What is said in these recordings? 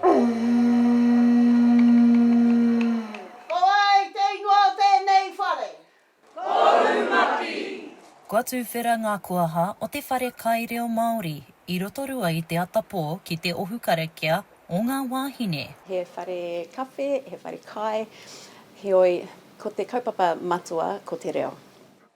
Ko wai te ingoa o tēnei whare? Koumaki. Kua tuwhera ngā koaha o te whare kai reo Māori i Rotorua i te atapō ki te ohu karakia o ngā wāhine. He whare kawhe, he whare kai, heoi, ko te kaupapa matua ko te reo.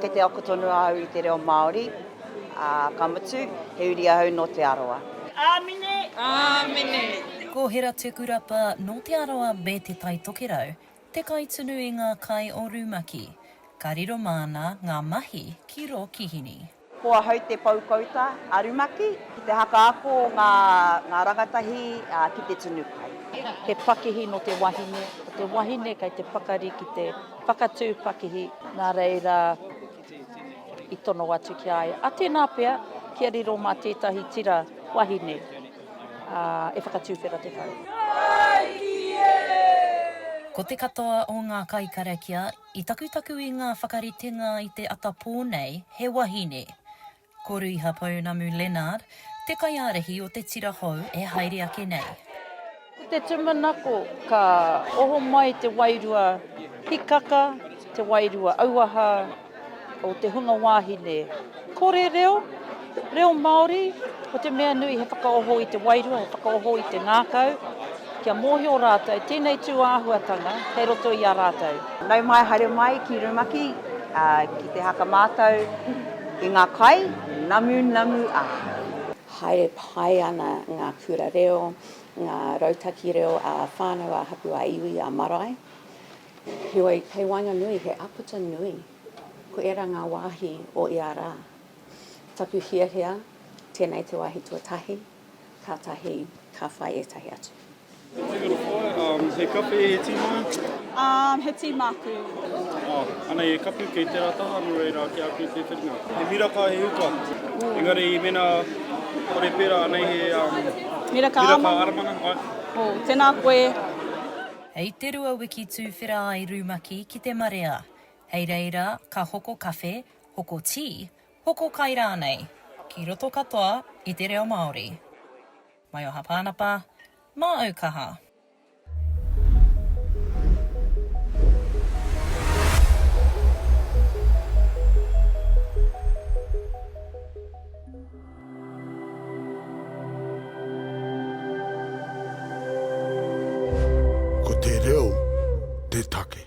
Kei te ako tonu ahau i te reo Māori, ā, ka mutu, he uri ahau nō Te Arawa. Āmine! Āmine! Ko Heratekurapa nō Te Arawa me Te Tai Tokerau te kaitunu i ngā kai o rumaki. Ka riro māna ngā mahi ki rō kihini. Ko ahau te poukouta a rumaki ki te hakaako ngā ngā rangatahi ki te tunu kai. He pakihi nō te wahine, ko te wahine kei te pakari ki te Whakatū pakihi, nā reira i tono atu ki a ia, a tēnā pea kia riro mā tētahi tira wahine, ā, e whakatūwhera te whare. Ko te katoa o ngā kaikarakia i takutaku i ngā whakaritenga i te atapō nei he wahine. Ko Ruiha Pounamu Leonard te kaiārahi o te tira hou e haere ake nei. Ko te tumanako ka oho mai te wairua hikaka, te wairua auaha o te hunga wāhine. Kore reo, reo Māori, ko te mea nui he whakaoho i te wairua, he whakaoho i te ngākau. Kia mōhio rātou tēnei tū āhuatanga kei roto i a rātou. Nau mai, haere mai ki rumaki, ki te haka mātou i ngā kai, namu, namu ahau. Haere pai ana ngā kura reo, ngā rautaki reo ā-whānau, ā-hapū, ā-iwi, ā-marae. Heoi, kei waenganui he āputa nui, ko ērā ngā wāhi o ia rā. Taku hiahia, tēnei te wāhi tuatahi. Kātahi ka whai ētahi atu. Ko te uru koa, umm, he kape he tīma? Umm, he tīma aku. Oh, anei he kape kei tērā taha, nō reira ki a koe te whiringa. He miraka, he uka. Engari mēnā kore pērā, anei he, umm, miraka aramanga. Miraka aramanga, ai. Oh, tēnā koe. Hei te rua wiki tuwhera ai Rumaki ki te marea. Hei reira, ka hoko kawhe, hoko tī, Hoko kai rānei, ki roto katoa i te reo Māori. Maioha Pānapa, mā au kaha. Ko te reo te take.